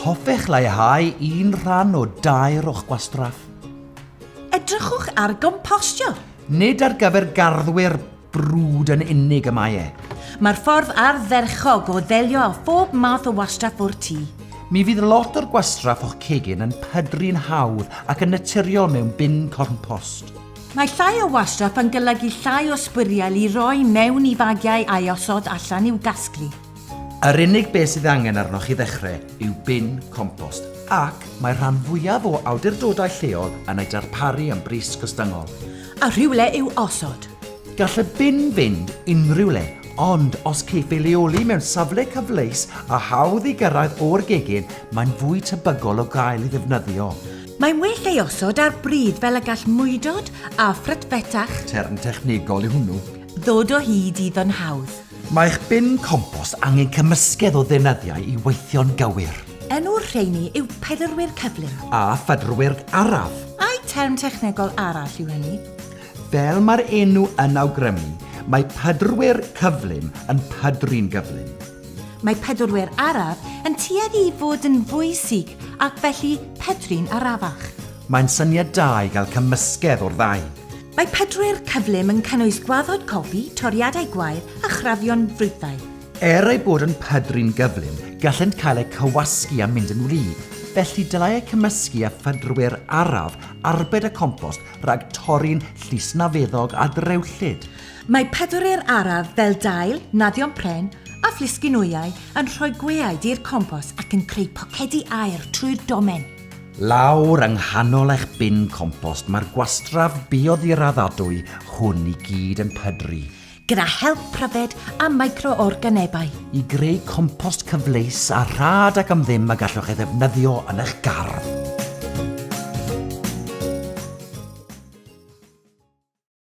Hoffech leihau un rhan o dair o'ch gwastraff? Edrychwch ar gompostio. Nid ar gyfer garddwyr brwd yn unig y mae e. Mae'r ffordd ardderchog o ddelio â phob math o wastraff o'r tŷ. Mi fydd lot o'r gwastraff o'ch cegin yn pydru'n hawdd ac yn naturiol mewn bin compost. Mae llai o wastraff yn golygu llai o sbwriel i roi mewn i fagiau a'i osod allan i'w gasglu. Yr unig beth sydd angen arnoch chi ddechrau yw bin compost, ac mae'r rhan fwyaf o awdurdodau lleol yn ei darparu am bris gostyngol. A rhywle i'w osod. Gall y bin fynd unrhyw le, ond os caiff ei leoli mewn safle cyfleus a hawdd ei gyrraedd o'r gegin, mae'n fwy tebygol o gael ei ddefnyddio. Mae'n well ei osod ar bridd fel y gall mwydod a phrut fetach. Term technegol yw hwnnw. Ddod o hyd iddo'n hawdd. Mae'ch bin compost angen cymysgedd o ddeunyddiau i weithio'n gywir. Enw'r rheiny yw pedrwyr cyflym. A phedrwyr araf. Ai term technegol arall yw hynny? Fel mae'r enw yn awgrymu, mae pedrwyr cyflym yn pedru'n gyflym. Mae pedwrwyr araf yn tueddu i fod yn fwy sych ac felly pedru'n arafach. Mae'n syniad da i gael cymysgedd o'r ddau. Mae pedrwyr cyflym yn cynnwys gwaddod cofi, toriadau gwair a chrafion ffrwythau. Er eu bod yn pedru'n gyflym, gallent cael eu cywasgu a mynd yn wlyb, felly dylai eu cymysgu â phedrwyr araf arbed y compost rhag torri'n llysnafeddog a drewllyd. Mae pedweryr araf fel dail, naddion pren a phlisgyn wyau yn rhoi gweaid i'r compos ac yn creu pocedi aer trwy'r domen. Lawr yng nghanol eich bin compost mae'r gwastraff bioddigraddadwy hwn i gyd yn pydru. Gyda help pryfed a micro-organebau. I greu compost cyfleus a rhad ac am ddim y gallwch ei ddefnyddio yn eich gardd.